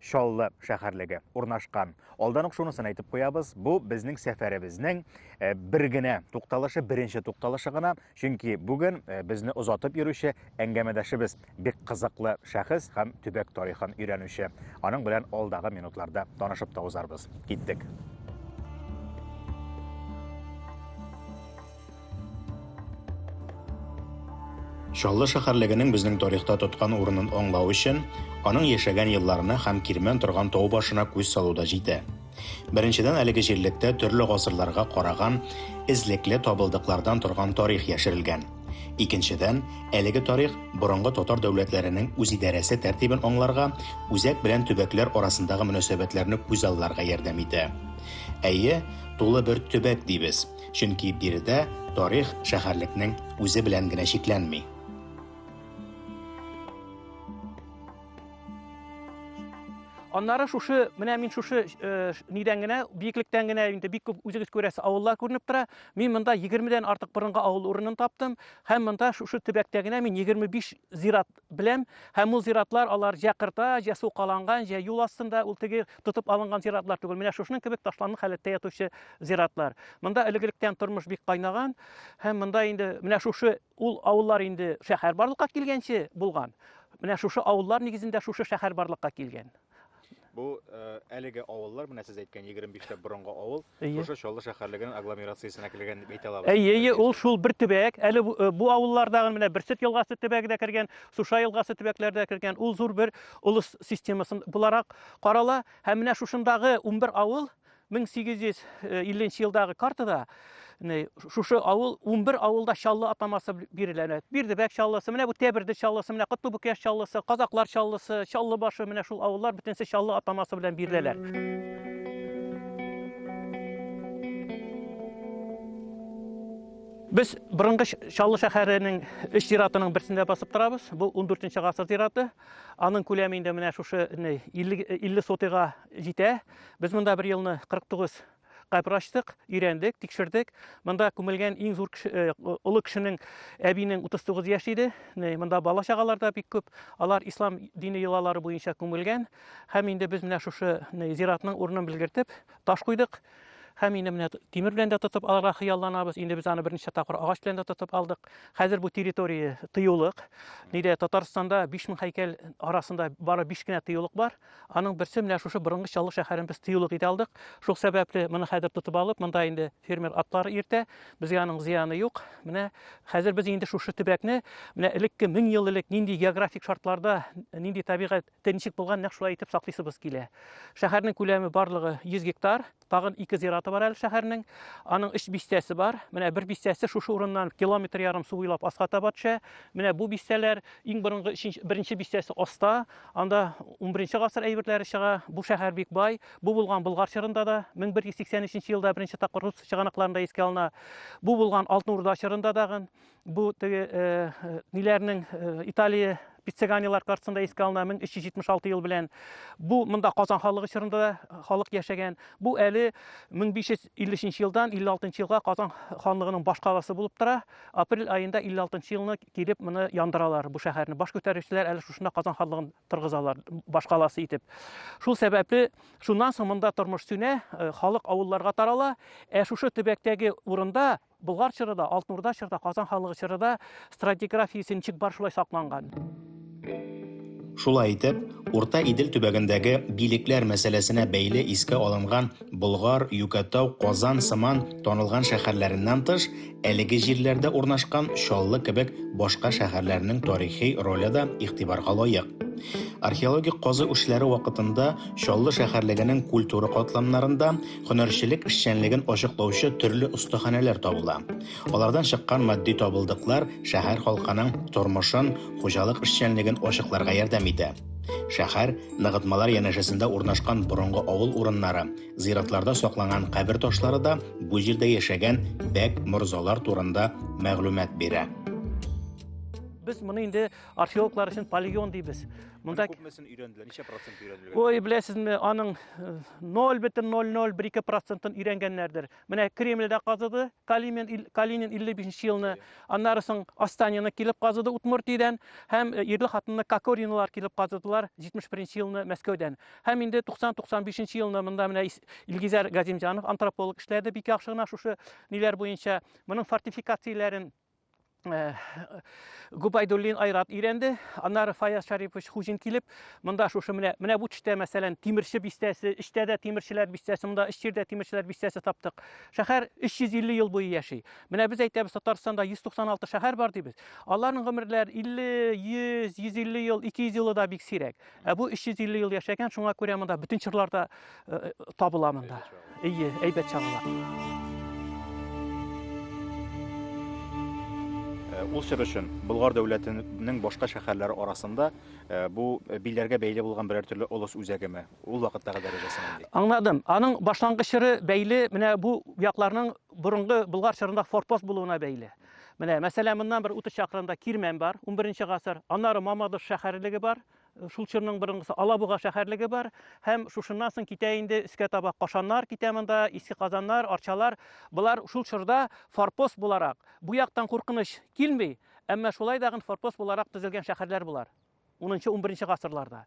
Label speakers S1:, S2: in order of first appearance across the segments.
S1: Чаллы шәһәрлеге урнашкан. Алдан ук шунысын әйтеп куябыз, бу безнең сәфәребезнең э, бер генә тукталышы, беренче тукталышы гына, чөнки бүген э, безне озатып йөрүче әңгәмәдәшебез бик кызыклы шәхес һәм төбәк тарихын өйрәнүче. Аның белән алдагы минутларда танышып та узарбыз. Киттек. Чаллы шәһәрлегенең безнең тарихта тоткан урынын аңлау өчен, аның яшәгән елларына һәм кирмән торган тау башына күз салу да җитә. Беренчедән, әлеге җирлектә төрле гасырларга караган эзлекле табылдыклардан торган тарих яшерелгән. Икенчедән, әлеге тарих борынгы татар дәүләтләренең үзидарәсе тәртибен аңларга, үзәк белән төбәкләр арасындагы мөнәсәбәтләрне күзалларга ярдәм итә. Әйе, тулы бер төбәк дибез. Чөнки биредә тарих шәһәрлекнең үзе белән генә чикләнми.
S2: Аннары шушы, менә мин шушы э, нидән генә, биеклектән генә инде бик күп үзегез күрәсе авыллар күренеп тора. Мин монда 20 дән артык борынгы авыл урынын таптым һәм монда шушы төбәктә генә мин 25 зират Беләм, һәм ул зиратлар алар җә кырта, җә сукаланган, җә юл астында, ул теге тотып алынган зиратлар түгел, менә шушының кебек ташланлы халәттә ятучы зиратлар. Монда элегелектән тормыш бик кайнаган, һәм монда инде менә шушы ул авыллар инде шәһәр барлыкка килгәнче булган. Менә шушы авыллар нигезендә шушы шәһәр барлыкка килгән. Бу
S1: әлеге авыллар, менә сез әйткән 25 тә борынгы авыл, шушы Чаллы шәһәрлегенең агломерациясенә кергән дип әйтә алабыз. Әйе, әйе, ул шул бер
S2: төбәк. Әле бу авылларда менә Берсет елгасы төбәге дә кергән, Суша елгасы төбәкләре дә кергән. Ул зур бер улус системасын буларак карала. Һәм менә шушындагы 11 авыл 1850 нче елдагы картада шушы авыл 11 авылда чаллы атамасы бирелә әнә бирдебәк чаллысы менә бу тәберде чаллысы менә котлыбүк яш чаллысы казаклар чаллысы чаллы башы менә шул авыллар бөтенесе чаллы атамасы белән биреләләр Без борынгы Чаллы шәһәренең өч зиратының берсендә басып торабыз. Бу 14 гасыр зираты. Аның күләме инде менә шушы 50 50 сотыйга җитә. Без монда бер елны 49 кабер ачтык, өйрәндек, тикшердек. Монда күмелгән иң зур кеше, э, олы кешенең әбинең 39 яшь иде. Монда бала чагалар да бик күп. Алар ислам дине йолалары буенча күмелгән. Һәм инде без менә шушы зиратның урынын белгертеп, таш куйдык. Һәм инде менә тимер белән дә тотып алырга хыялланабыз. Инде без аны берничә тапкыр агач белән дә тотып алдык. Хәзер бу территория тыюлык. Нидә Татарстанда 5000 һәйкәл арасында бары 5 кенә тыюлык бар. Аның берсе менә шушы борынгы Чаллы шәһәрен без тыюлык итә алдык. Шул сәбәпле моны хәзер тотып алып, монда инде фермер атлар иртә, безгә аның зыяны юк. Менә хәзер без инде шушы төбәкне, менә элекке 1000 ел элек нинди географик шартларда, нинди табигатьтә ничек булган, нәкъ шулай итеп саклыйсыбыз килә. Шәһәрнең күләме барлыгы 100 гектар. Тагын ике зираты бар әле шәһәрнең. Аның өч бистәсе бар. Менә бер бистәсе шушы урыннан километр ярым су буйлап аска таба төшә. Менә бу бистәләр иң борынгы беренче бистәсе аста. Анда 11 гасыр әйберләре чыга. Бу шәһәр бик бай. Бу булган Болгар чорында да 1183 елда беренче тапкыр рус чыганакларында искә алына. Бу булган Алтын Урда чорында дагы. Бу теге ниләрнең Италия пиццеганилар картасында искә алына 1376 ел белән. Бу монда Казан халыгы чорында да халык яшәгән. Бу әле 1553 елдан 56 елга Казан ханлыгының баш каласы булып тора. Апрель аенда 56 елны килеп моны яндыралар бу шәһәрне. Баш күтәрүчеләр әле шушында Казан ханлыгын торгызалар баш каласы итеп. Шул сәбәпле шуннан соң монда тормыш сүнә, халык авылларга тарала. Ә шушы төбәктәге урында Болгар чыры да, Алтын Урда чыры да, Казан ханлыгы чыры да стратиграфиясе ничек бар шулай сакланган.
S3: Шулай итеп, Урта Идел төбәгендәге билекләр мәсьәләсенә бәйле искә алынган Болгар, Юкәтау, Казан сыман танылган шәһәрләреннән тыш, әлеге җирләрдә урнашкан Чаллы кебек башка шәһәрләрнең тарихи роле да игътибарга лаек. Археологик казу эшләре вакытында Чаллы шәһәрлегенең культура катламнарында Һөнәрчелек эшчәнлеген ачыклаучы төрле остаханәләр табыла. Алардан чыккан матди табылдыклар шәһәр халкының тормышын, хуҗалык эшчәнлеген ачыкларга ярдәм итә. Шәһәр, ныгытмалар янәшәсендә урнашкан борынгы авыл урыннары, зиратларда сакланган кабер ташлары да бу җирдә яшәгән бәк, морзалар турында мәгълүмат бирә. Без
S2: моны инде археологлар өчен полигон дибез. Монда күпмесен өйрәнделәр? Ничә
S1: процент өйрәнелгән? Ой, беләсезме, аның
S2: 0,0012 процентын өйрәнгәннәрдер. Менә Кремльдә казыды, Калинин, Калинин 55 елны, аннары соң Астанина килеп казыды Удмуртиядән һәм э, ирле хатынны Кокоринлар килеп казыдылар 71 елны Мәскәүдән. Һәм инде 90-95 елны монда менә Илгизәр Газимҗанов антрополог эшләде бик яхшы гына шушы ниләр буенча. Моның фортификацияләрен Э, Губайдуллин Айрат өйрәнде. Аннары Фаяз Шарипович Хужин килеп, монда шушы менә менә бу төштә, мәсәлән, тимерче бистәсе, эчтә дә тимерчеләр бистәсе, монда эч җирдә тимерчеләр бистәсе таптык. Шәһәр 350 ел буе яши. Менә без әйтәбез, Татарстанда 196 шәһәр бар дибез. Аларның гомерләре 50, 100, 150 ел, 200 елы да бик сирәк. Ә бу 350 ел яшәгән, шуңа күрә монда бөтен чырлар да э, э, табыла монда. Ие, әйбәт чагыла.
S1: Э, ул чор өчен Болгар дәүләтенең башка шәһәрләре арасында бу билләргә бәйле булган берәр төрле олыс үзәгеме? Ул вакыттагы дәрәҗәсе нинди? Аңладым. Аның
S2: башлангыч чоры бәйле менә бу якларның борынгы Болгар чорында форпост булуына бәйле. Менә, мәсәлән, моннан бер 30 чакрымда Кирмән бар, 11 гасыр. Аннары Мамадыш шәһәрлеге бар. Шул чорның борынгысы Алабуга шәһәрлеге бар һәм шушыннан соң китә инде өскә таба Кашаннар китә монда, Иске Казаннар, Арчалар. Болар шул чорда форпост буларак, бу яктан куркыныч килми, әмма шулай дагын форпост буларак төзелгән шәһәрләр болар. 10-нчы, 11-нче гасырларда.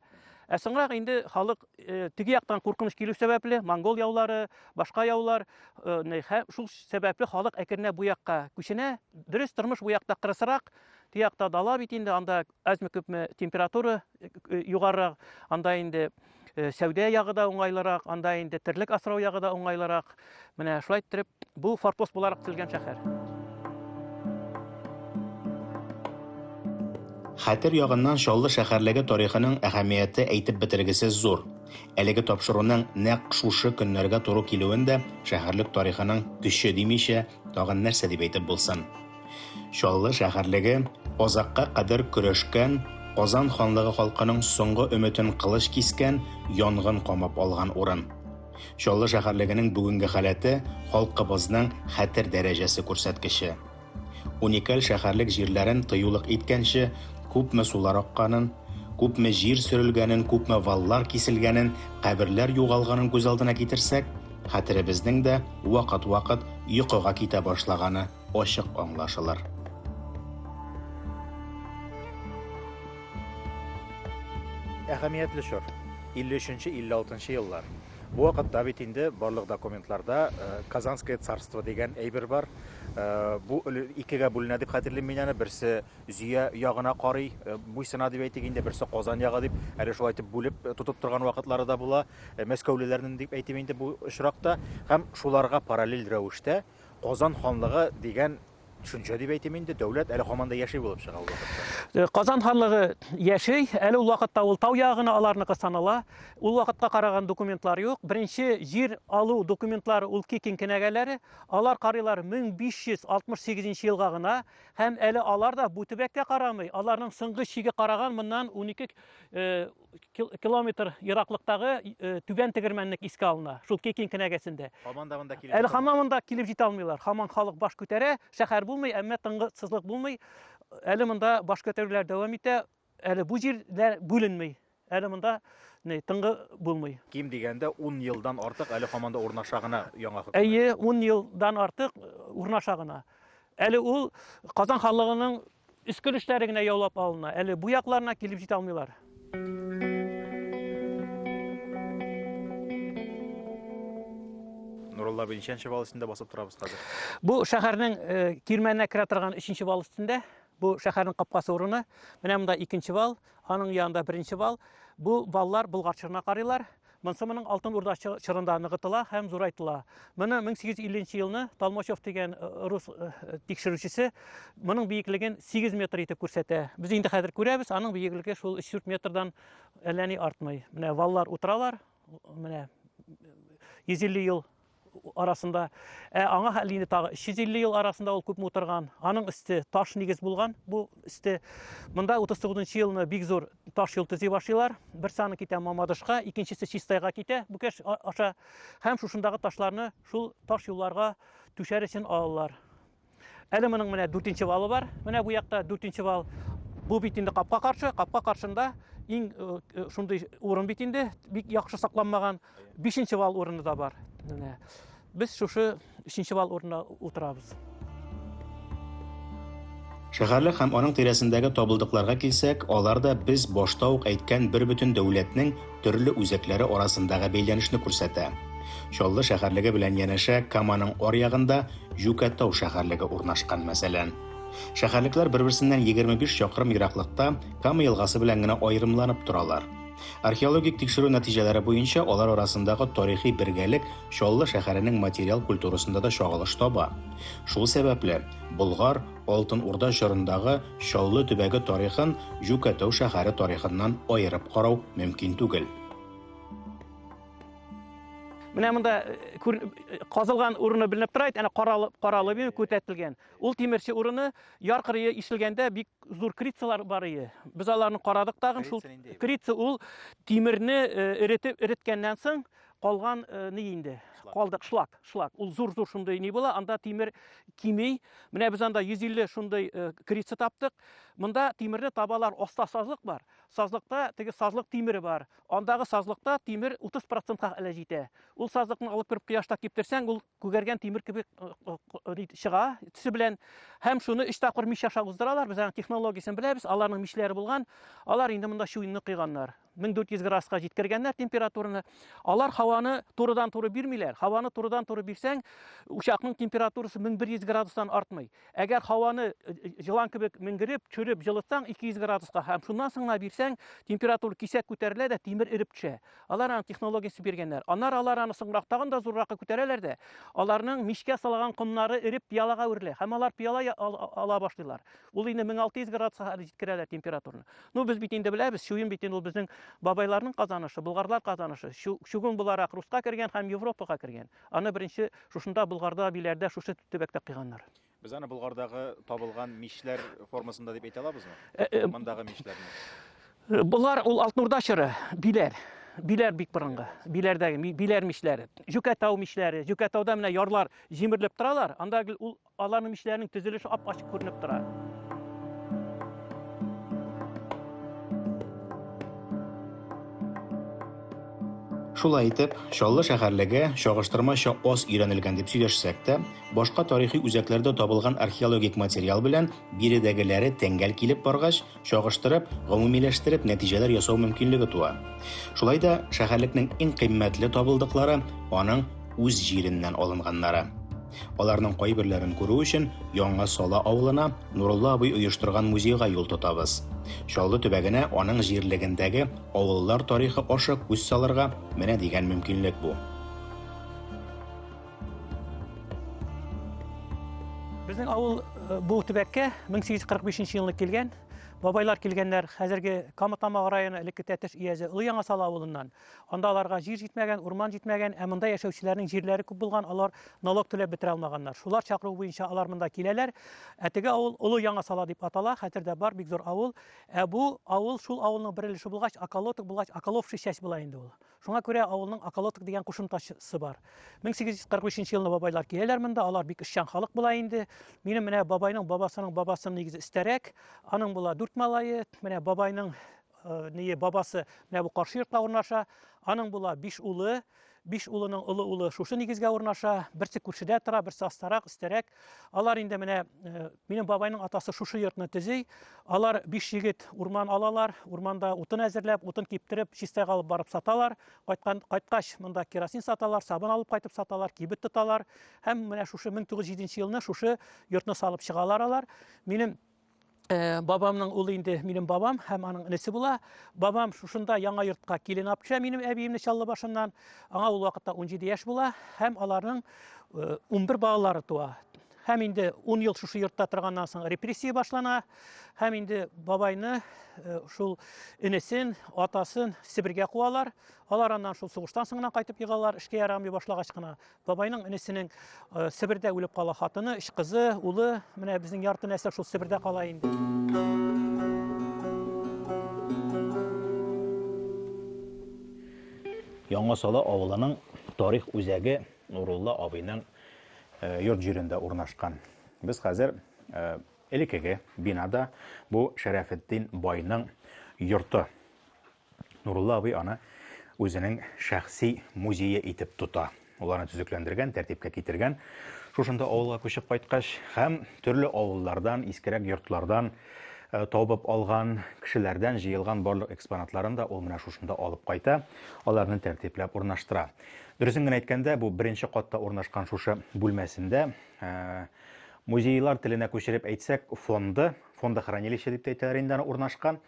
S2: Ә соңрак инде халык э, теге яктан куркыныч килү сәбәпле, монгол яулары, башка яулар, э, шул сәбәпле халык әкренә бу якка күченә. Дөрес тормыш бу якта кырысрак, тиякта дала бит инде, анда әзме күпме температура э, э, югарырак, анда инде э, сәүдә ягы да уңайлырак, анда инде терлек асрау ягы да уңайлырак. Менә шулай иттереп, бу форпост буларак төзелгән шәһәр.
S3: Хәтер ягыннан Чаллы шәһәрлеге тарихының әһәмияте әйтеп бетергесез зур. Әлеге тапшыруның нәкъ шушы көннәргә туры килүен дә шәһәрлек тарихының көче димичә, тагын нәрсә дип әйтеп булсын? Чаллы шәһәрлеге азакка кадәр көрәшкән, Казан ханлыгы халкының соңгы өметен кылыч кискән, янгын камап алган урын. Чаллы шәһәрлегенең бүгенге халәте, халкыбызның хәтер дәрәҗәсе күрсәткече. Уникаль шәһәрлек җирләрен тыюлык иткәнче, күпме сулар акканын, күпме җир сөрелгәнен, күпме валлар киселгәнен, каберләр югалганын күз алдына китерсәк, хәтеребезнең дә вакыт-вакыт йокыга китә башлаганы ачык аңлашылыр.
S1: Әһәмиятле чор. 53-56 еллар. Бу вакытта бит инде барлык документларда э, Казанское царство дигән әйбер бар. Э, бу икегә бүленә дип хәтерлим мин аны. Берсе Зөя ягына карый, э, буйсына дип әйтик инде, берсе Казан ягы дип, әле шулай итеп бүлеп тотып торган вакытлары да була. Мәскәүлеләрнең дип әйтим инде бу очракта. Һәм шуларга параллель рәвештә Казан ханлыгы дигән төшенчә дип әйтим инде, дәүләт әле һаман да яши булып чыга ул вакытта. Э, Казан ханлыгы
S2: яши, әле ул вакытта ул тау ягы гына аларныкы санала. Ул вакытка караган документлар юк. Беренче җир алу документлары ул Кикин кенәгәләре. Алар карыйлар 1568 елга гына һәм әле алар да бу төбәккә карамый. Аларның соңгы чиге караган моннан 12 э, километр ераклыктагы э, түбән тегермәнлек искә алына шул кекин кенәгәсендә хаман да монда килеп әле хаман монда килеп җитә алмыйлар хаман халык баш күтәрә шәһәр булмый әмма тынгысызлык булмый әле монда баш күтәрүләр дәвам итә әле бу җирләр бүленмей әле монда не тыңгы булмый ким дигәндә ун
S1: елдан артык әле хаман да урнаша гына яңа хөкүмәт әйе ун елдан
S2: артык э, урнаша гына әле ул казан ханлыгының Өскел эшләре генә яулап алына. Әле бу якларына килеп җитә алмыйлар.
S1: Нурулла абый, ничәнче вал өстендә басып торабыз хәзер? Бу
S2: шәһәрнең э, кирмәненә керә торган өченче вал өстендә. Бу шәһәрнең капкасы урыны. Менә монда икенче вал, аның янында беренче вал. Бу валлар Болгарчыгына карыйлар. Монсы моның Алтын Урда чорында ныгытыла һәм зурайтыла. Моны 1850 елны Талмачев дигән э, рус э, тикшерүчесе моның биеклеген 8 метр итеп күрсәтә. Без инде хәзер күрәбез, аның биеклеге шул 3-4 метрдан әллә ни артмый. Менә валлар утыралар, менә 150 ел арасында. Ә аңа хәл инде тагы 350 ел арасында ул күпме утырган. Аның өсте таш нигез булган бу өсте. Монда 39 елны бик зур таш юл төзи башлыйлар. Бер саны китә Мамадышка, икенчесе Чистайга китә. Бүкәш аша һәм шушындагы ташларны шул таш юлларга түшәр өчен алалар. Әле моның менә дүртенче валы бар. Менә бу якта дүртенче вал. Бу бит инде капка каршы, капка каршында иң э, э, шундый урын бит инде, бик яхшы сакланмаган. Бишенче вал урыны да бар. Менә без шушы өченче вал урынына утырабыз.
S3: Шәһәрлек һәм аның тирәсендәге табылдыкларга килсәк, алар да без башта ук әйткән бер бөтен дәүләтнең төрле үзәкләре арасындагы бәйләнешне күрсәтә. Чаллы шәһәрлеге белән янәшә Каманың аръягында Җүкәтау шәһәрлеге урнашкан, мәсәлән. Шәһәрлекләр бер-берсеннән 25 чакрым ераклыкта Кама елгасы белән генә аерымланып торалар. Археологик тикшерү нәтиҗәләре буенча алар арасындагы тарихи бергәлек Чаллы шәһәренең материал культурасында да чагылыш таба. Шул сәбәпле, Болгар, Алтын Урда чорындагы Чаллы төбәге тарихын Җүкәтау шәһәре тарихыннан аерып карау мөмкин түгел.
S2: Менә монда э, казылган урыны беленеп тора, әнә каралы каралы бин күтәтелгән. Ул тимерче урыны яр кырые ишелгәндә бик зур крицалар бар иде. Без аларны карадык тагын шул. Крица ул тимерне э, эретеп эреткәннән соң калган э, ни инде калдык шлак шлак ул зур зур шундый ни була анда тимер кими менә без анда 150 шундый э, крица таптык монда тимерне табалар аста сазлык бар сазлыкта теге сазлык тимере бар андагы сазлыкта тимер 30 процентка әле җитә ул сазлыкны алып кереп кояшта киптерсәң ул күгәргән тимер кебек э, чыга төсе белән һәм шуны өч тапкыр мич аша уздыралар без аның технологиясен беләбез аларның мишләре булган алар инде монда чуенны койганнар 1400 градуска җиткергәннәр температураны. Алар һаваны турыдан туры бирмиләр. Һаваны турыдан туры бирсәң, учакның температурасы 1100 градустан артмый. Әгәр һаваны э, э, җылан кебек менгереп, чүреп, җылытсаң 200 градуска һәм шуннан соң гына бирсәң, температура кисәк күтәрелә дә тимер эреп төшә. Алар аны технологиясе биргәннәр. Аннар алар аны соңрак тагын да зурракка күтәрәләр дә, аларның мичкә салган комнары эреп пиалага үрелә һәм алар пиала ала башлыйлар. Ул инде 1600 градуска хәтле җиткерәләр температураны. Ну без бит инде беләбез, чуен бит инде ул безнең бабайларның казанышы, болгарлар казанышы. Чугун буларак Руска кергән һәм Европага кергән. Аны беренче шушында Болгарда, Биләрдә, шушы төбәктә кыйганнар. Без аны Болгардагы
S1: табылган мишләр формасында дип әйтә алабызмы? Э, э, Мондагы мишләрне. Э, болар ул Алтнурда
S2: чоры, Биләр. Биләр бик борынгы. Биләрдәге Биләр мишләре. Җүкәтау мишләре. Җүкәтауда менә ярлар җимерелеп торалар. Анда ул Аларның мичләренең төзелеше ап-ачык күренеп тора.
S3: Шулай итеп, Чаллы шәһәрлеге чагыштырмача аз өйрәнелгән дип сөйләшсәк тә, башка тарихи үзәкләрдә табылган археологик материал белән биредәгеләре тәңгәл килеп баргач, чагыштырып, гомумиләштереп нәтиҗәләр ясау мөмкинлеге туа. Шулай да шәһәрлекнең иң кыйммәтле табылдыклары аның үз җиреннән алынганнары. Аларның кайберләрен күрү өчен Яңа Сала авылына Нурулла абый оештырган музейга юл тотабыз. Чаллы төбәгенә аның җирлегендәге авыллар тарихы аша күз салырга менә дигән мөмкинлек бу.
S2: Безнең авыл э, бу төбәккә 1845 елны килгән. Бабайлар килгәннәр хәзерге Камытамаг районы элекке Тәтеш иязе Олы Яңа Сала авылыннан. Анда аларга җир җитмәгән, урман җитмәгән, ә монда яшәүчеләрнең җирләре күп булган, алар налог түләп бетерә алмаганнар. Шулар чакыруы буенча алар монда киләләр. Ә теге авыл Олы Яңа Сала дип атала, хәтердә бар, бик зур авыл. Ә бу авыл шул авылның бер өлеше булгач, Аколоток булгач, Аколовшы чәч була инде ул. Шуңа күрә авылның околоток дигән кушымтасы бар. 1843 елны бабайлар киләләр монда, алар бик эшчән халык була инде. Минем менә бабайның бабасының бабасының нигезе өстәрәк, аның була дүрт малае, менә бабайның э, ние бабасы менә бу каршы йортта урнаша, аның була биш улы, биш улының олы улы шушы нигезгә урнаша, берсе күршедә тора, берсе астарак, өстәрәк, Алар инде менә э, минем бабайның атасы шушы йортны төзи. Алар биш егет урман алалар, урманда утын әзерләп, утын киптереп, чистәгә алып барып саталар. Кайткан кайткач монда керосин саталар, сабын алып кайтып саталар, кибет тоталар. Һәм менә шушы 1907 елны шушы йортны салып чыгалар алар. Минем Э, бабамның улы инде минем бабам һәм аның энесе була. Бабам шушында яңа йортка килен апча минем әбиемне чаллы башыннан. Аңа ул вакытта 17 яшь була һәм аларның 11 э, балалары туа. Һәм инде 10 ел шушы йортта торганнан соң репрессия башлана. Һәм инде бабайны э, шул энесен, атасын Себергә куалар. Алар аннан шул сугыштан соңынан кайтып егалар, эшкә ярамый башлагач кына. Бабайның энесенең э, Себердә үлеп кала хатыны, үч кызы, улы, менә безнең ярты нәсел шул Себердә кала инде.
S1: Яңа Сала авылының тарих үзәге Нурулла абыйның э, йорт җирендә урнашкан. Без хәзер э, элекеге бинада бу Шәрәфетдин байның йорты Нурулла абый аны үзенең шәхси музее итеп тота. Ул аны төзекләндергән, тәртипкә китергән. Шушында авылга күчеп кайткач һәм төрле авыллардан, искерәк йортлардан э, табып алган, кешеләрдән җыелган барлык экспонатларын да ул менә шушында алып кайта, аларны тәртипләп урнаштыра. Дөресен генә әйткәндә, бу беренче катта урнашкан шушы бүлмәсендә э, музейлар теленә күчереп әйтсәк, фонды, фондохранилище дип тә әйтәләр инде аны урнашкан.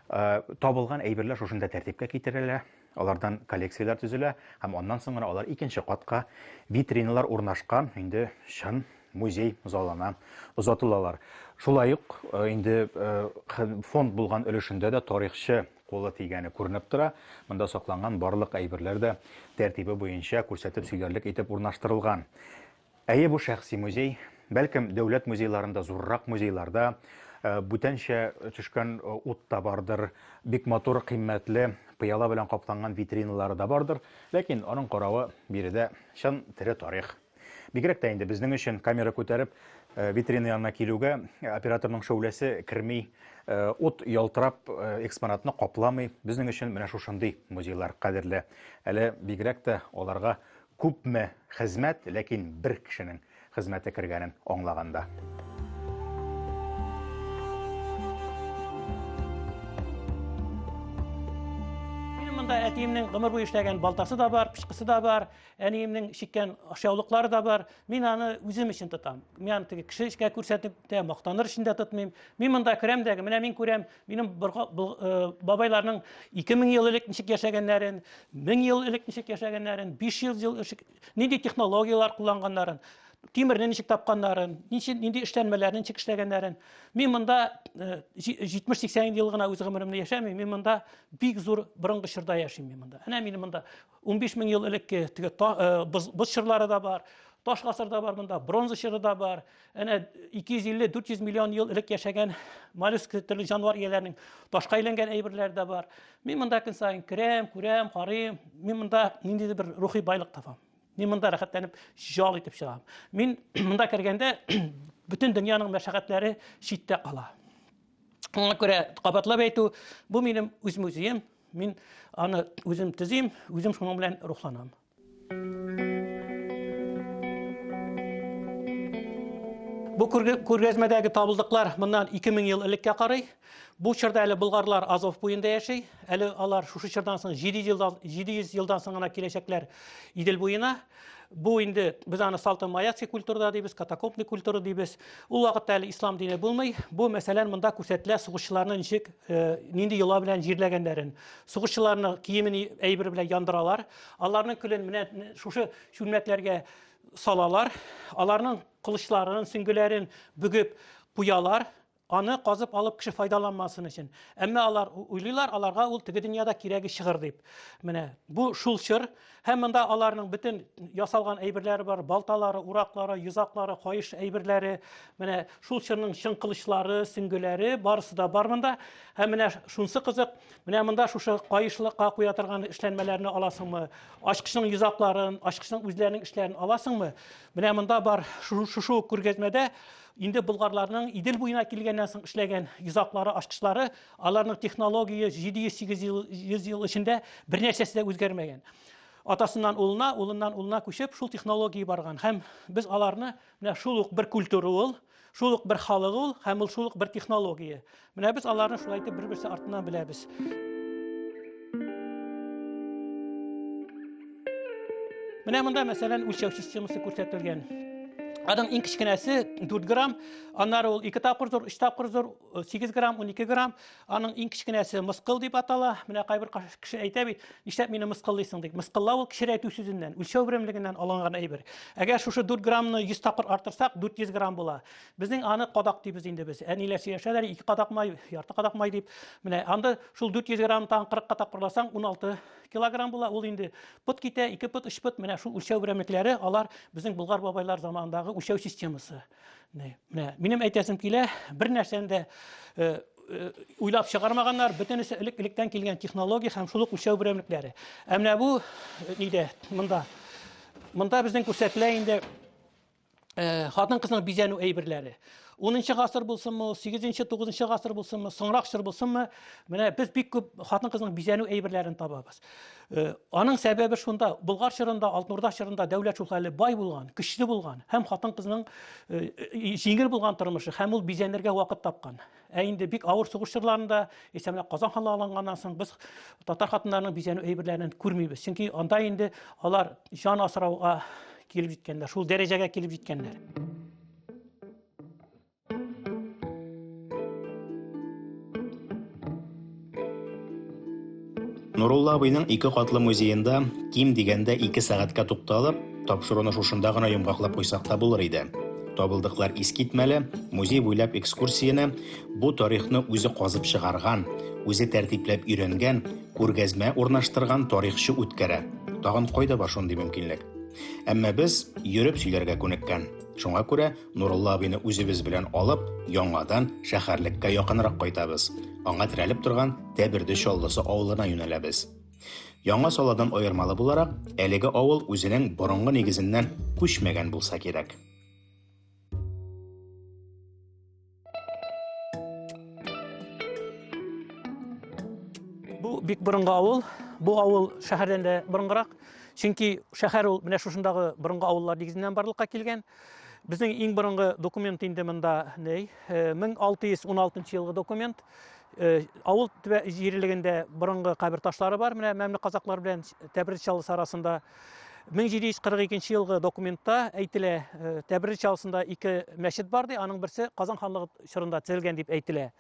S1: Э, табылган әйберләр шушында тәртипкә китерелә, алардан коллекцияләр төзелә һәм аннан соң гына алар икенче катка витриналар урнашкан инде чын музей залына озатылалар. Шулай ук э, инде э, фонд булган өлешендә дә тарихчы колы тигәне күренеп тора. Монда сакланган барлык әйберләр дә тәртибе буенча күрсәтеп сөйләрлек итеп урнаштырылган. Әйе, бу шәхси музей. Бәлкем, дәүләт музейларында, зуррак музейларда бүтәнчә төшкән ут та бардыр, бик матур, кыйммәтле, пыяла белән капланган витриналары да бардыр, ләкин аның каравы биредә чын тере тарих. Бигрәк тә инде безнең өчен камера күтәреп витрина янына килүгә операторның шәүләсе керми, ут ялтырап экспонатны капламый. Безнең өчен менә шушындый музейлар кадерле. Әле бигрәк тә аларга Күпме хезмәт, ләкин бер кешенең хезмәте кергәнен аңлаганда.
S2: Монда әтиемнең гомер буе эшләгән балтасы да бар, пычкысы да бар, әниемнең чиккән ашъяулыклары да бар. Мин аны үзем өчен тотам. Мин аны теге кеше эшкә күрсәтеп тә, мактаныр өчен дә тотмыйм. Мин монда керәм дә, менә мин күрәм, Минем бабайларның 2000 ел элек ничек яшәгәннәрен, 1000 ел элек ничек яшәгәннәрен, 500 ел элек нинди технологияләр кулланганнарын, тимерне ничек тапканнарын, ничек нинди эшләнмәләрне ничек эшләгәннәрен. Мин монда 70-80 э, ел гына үз гомеремне яшәмим, мин монда бик зур борынгы чорда яшим мин монда. Әнә мин монда 15 мең ел элекке теге боз, боз чырлары да бар, таш гасыр да бар монда, бронза чыры да бар. Әнә 250-400 миллион ел элек яшәгән моллюск төрле җанвар ияләренең ташка әйләнгән әйберләре дә бар. Мин монда көн саен керәм, күрәм, карыйм. Мин монда ниндидер бер рухи байлык табам. Мин монда рәхәтләнеп җал итеп чыгам. Мин монда кергәндә бөтен дөньяның мәшәкатьләре читтә кала. Аңа күрә кабатлап әйтү, бу минем үз музеем, Мин аны үзем төзим, үзем шуның белән рухланам. Бу күргәзмәдәге табылдыклар моннан 2000 ел элеккә карый. Бу чорда әле болгарлар Азов буенда яши. Әле алар шушы чордан соң 700 елдан, 700 елдан соң гына киләчәкләр Идел буена. Бу инде без аны салты маяци культурада дибез, катакопный культура дибез. Ул вакытта әле ислам дине булмый. Бу мәсәлән монда күрсәтелә сугышчыларны ничек э, нинди йола белән җирләгәннәрен. Сугышчыларны киемен әйбер белән яндыралар. Аларның көлен менә шушы чүлмәкләргә салалар. Аларның кылычларын, сөңгеләрен бөгеп куялар. Аны казып алып кеше файдаланмасын өчен. Әмма алар уйлыйлар, аларга ул теге дөньяда кирәге чыгыр дип. Менә бу шул чор. Һәм монда аларның бөтен ясалган әйберләре бар, балталары, ураклары, йозаклары, каеш әйберләре, менә шул чорның чын кылычлары, сөңгеләре, барысы да бар монда. Һәм менә шунсы кызык, менә монда шушы каешлыкка куя торган эшләнмәләрне аласыңмы? Ачкычның йозакларын, ачкычның үзләренең эшләрен аласыңмы? Менә монда бар, шушы күргәзмәдә Инде болгарларның Идел буена килгәннән соң эшләгән йозаклары, ачкычлары, аларның технология 700-800 ел, 100 ел эчендә бернәрсәсе дә үзгәрмәгән. Атасыннан улына, улыннан улына күчеп, шул технология барган. Һәм без аларны менә шул ук бер культура ул, шул ук бер халык ул һәм ул шул ук бер технология. Менә без аларны шулай итеп бер-берсе артыннан беләбез. Менә монда мәсәлән үлчәү системасы күрсәтелгән. Аның иң кечкенәсе 4 грамм, аннары ул 2 тапкыр зур, 3 тапкыр зур, 8 грамм, 12 грамм. Аның иң кечкенәсе мыскыл дип атала. Менә кайбер кеше әйтә бит, нишләп мине мыскыллыйсың дип. Мыскыллау ул кечерәйтү сүзеннән, үлчәү берәмлегеннән алынган әйбер. Әгәр шушы 4 граммны 100 тапкыр артырсак, 400 грамм була. Безнең аны кадак дибез инде без. Әниләр сөйләшәләр, ике кадак май, ярты кадак май дип. Менә анда шул 400 грамм тагын 40 кадак кырласаң, 16 килограмм була. Ул инде пот китә, ике пот, өч пот. Менә шул үлчәү берәмлекләре, алар безнең Болгар бабайлар заманындагы үлчәү системасы. Менә минем әйтәсем килә, бер нәрсәне дә э, э, уйлап чыгармаганнар, бөтенесе элек-электән килгән технология һәм шул ук үлчәү берәмлекләре. Ә менә бу э, нидә, монда. Монда безнең күрсәтелә инде Э, хатын кызның бизәнү әйберләре унынчы гасыр булсынмы ул сигезенче тугызынчы гасыр булсынмы соңрак чор булсынмы менә без бик күп хатын кызның бизәнү әйберләрен табабыз э, аның сәбәбе шунда болгар чорында алтын урда чорында дәүләт шул хәле бай булган көчле булган һәм хатын кызның э, җиңел булган тормышы һәм ул бизәнергә вакыт тапкан Ә инде бик авыр сугыш чорларында, исә менә Казан ханлыгы алынганнан соң без татар хатыннарының бизәнү әйберләрен күрмибез. Чөнки анда инде алар җан асрауга килеп җиткәннәр, шул дәрәҗәгә килеп җиткәннәр.
S3: Нурулла абыйның ике катлы музеенда ким дигәндә ике сәгатькә тукталып, тапшыруны шушында гына йомгаклап куйсак та булыр иде. Табылдыклар искитмәле, музей буйлап экскурсияне бу тарихны үзе казып чыгарган, үзе тәртипләп өйрәнгән, күргәзмә урнаштырган тарихчы үткәрә. Тагын кайда бар шундый мөмкинлек? Әмма без йөреп сөйләргә күнеккән. Шуңа күрә Нурулла абыйны үзебез белән алып, яңадан шәһәрлеккә якынрак кайтабыз. Аңа терәлеп торган Тәберде Чаллысы авылына юнәләбез. Яңа саладан аермалы буларак, әлеге авыл үзенең борынгы нигезеннән күчмәгән булса кирәк.
S2: Бу бик борынгы авыл. Бу авыл шәһәрдән дә борынгырак. Чөнки шәһәр ул менә шушындагы борынгы авыллар нигезеннән барлыкка килгән. Безнең иң борынгы документ инде монда ней 1616 елгы документ. Э, авыл җирлегендә борынгы кабер ташлары бар. Менә мәмле казаклар белән Тәбриз чалысы арасында 1742 елгы документта әйтелә, э, Тәбрир чалысында ике мәчет бар ди, аның берсе Казан ханлыгы чорында төзелгән дип әйтелә.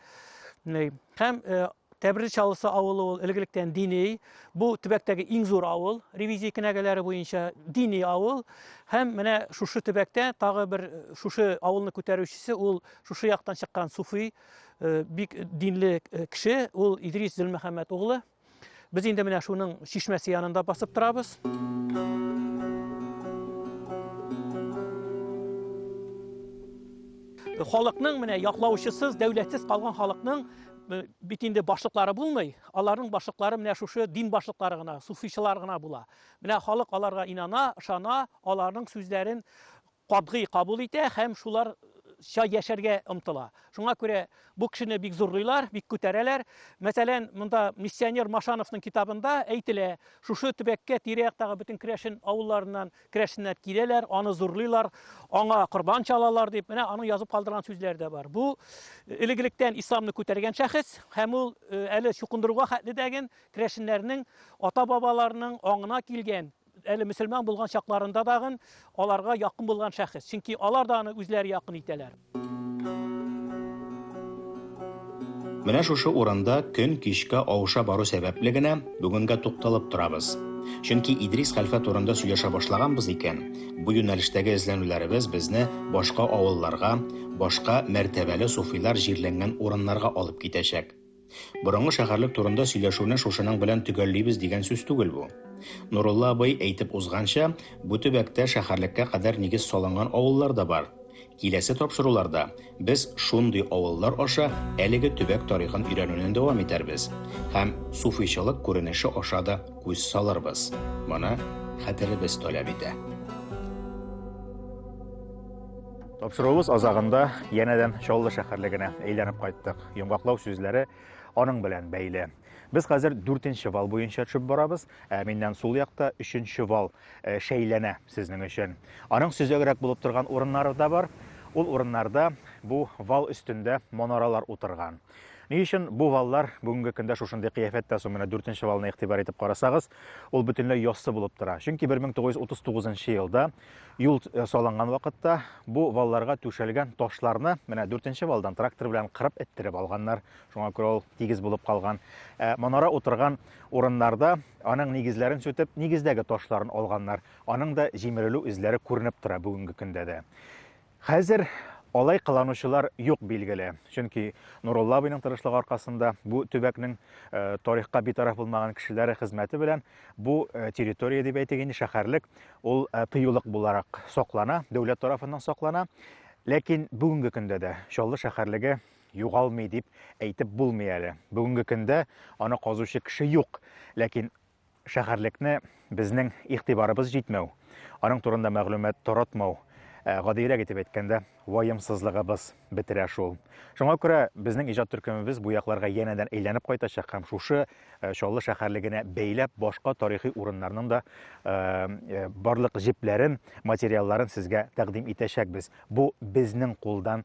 S2: Һәм э, Тәбрир чалысы авылы ул элгелектән дини, бу төбәктәге иң зур авыл, ревизия кенәгәләре буенча дини авыл. Һәм менә шушы төбәктә тагы бер э, шушы авылны күтәрүчесе ул шушы яктан чыккан суфи, бик динле кеше, ул Идрис Зөлмөхәммәт углы. Без инде менә шуның чишмәсе янында басып торабыз. Халыкның менә яклаучысыз, дәүләтсез калган халыкның бит инде башлыклары булмый, аларның башлыклары менә шушы дин башлыклары гына, суфичылар гына була. Менә халык аларга инана, ышана, аларның сүзләрен катгый кабул итә һәм шулар ча яшәргә омтыла. Шуңа күрә бу кешене бик зурлыйлар, бик күтәрәләр. Мәсәлән, монда миссионер Машановның китабында әйтелә, шушы төбәккә тирә-яктагы бөтен керәшен авылларыннан керәшеннәр киләләр, аны зурлыйлар, аңа корбан чалалар дип, менә аның язып калдырган сүзләре дә бар. Бу э, элек-электән исламны күтәргән шәхес һәм ул э, әле чукындыруга хәтле дәген керәшеннәрнең ата-бабаларының аңына килгән әле мөселман булган чакларында дагын аларга якын булган шәхес. Чөнки алар да аны үзләре якын итәләр.
S3: Менә шушы урында көн кичкә авыша бару сәбәпле генә бүгенгә тукталып торабыз. Чөнки Идрис хәлфә турында сөйләшә башлаганбыз икән, бу юнәлештәге эзләнүләребез безне башка авылларга, башка мәртәбәле суфилар җирләнгән урыннарга алып китәчәк. Борынгы шәһәрлек турында сөйләшүне шушының белән төгәллибез дигән сүз түгел бу. Нурулла абый әйтеп узганча, бу төбәктә шәһәрлеккә кадәр нигез салынган авыллар да бар. Киләсе тапшыруларда без шундый авыллар аша әлеге төбәк тарихын өйрәнүне дәвам итәрбез һәм суфыйчылык күренеше аша да күз салырбыз. Моны хәтеребез таләп итә.
S1: Тапшыруыбыз азагында янәдән Чаллы шәһәрлегенә әйләнеп кайттык. Йомгаклау сүзләре аның белән бәйле. Без хәзер дүртенче вал буенча төшеп барабыз, ә миннән сул якта өченче вал э, шәйләнә сезнең өчен. Аның сөзәгрәк булып торган урыннары да бар. Ул урыннарда бу вал өстендә монаралар утырган. Ни өчен бу валлар бүгенге көндә шушындый кыяфәттә соң менә дүртенче валны игътибар итеп карасагыз, ул бөтенләй яссы булып тора. Чөнки 1939 елда Юл э, салынган вакытта бу валларга түшәлгән ташларны менә дүртенче валдан трактор белән кырып эттереп алганнар. Шуңа күрә ул тигез булып калган. Ә манара утырган урыннарда аның нигезләрен сүтеп, нигездәге ташларын алганнар. Аның да җимерелү эзләре күренеп тора бүгенге көндә дә. Хәзер алай кыланучылар юк, билгеле. Чөнки Нурулла абыйның тырышлыгы аркасында бу төбәкнең э, тарихка битараф булмаган кешеләре хезмәте белән бу э, территория дип әйтик инде шәһәрлек ул э, тыюлык буларак саклана, дәүләт тарафыннан саклана. Ләкин бүгенге көндә дә Чаллы шәһәрлеге югалмый дип әйтеп булмый әле. Бүгенге көндә аны казучы кеше юк. Ләкин Шәһәрлекне безнең игътибарыбыз җитмәү, аның турында мәгълүмат таратмау, э, гадиерәк итеп әйткәндә, ваемсызлыгыбыз бетерә шул. Шуңа күрә безнең иҗат төркемебез бу якларга янәдән әйләнеп кайтачак һәм шушы э, Чаллы шәһәрлегенә бәйләп башка тарихи урыннарның да э, э, барлык җепләрен, материалларын сезгә тәкъдим итәчәкбез. Бу безнең кулдан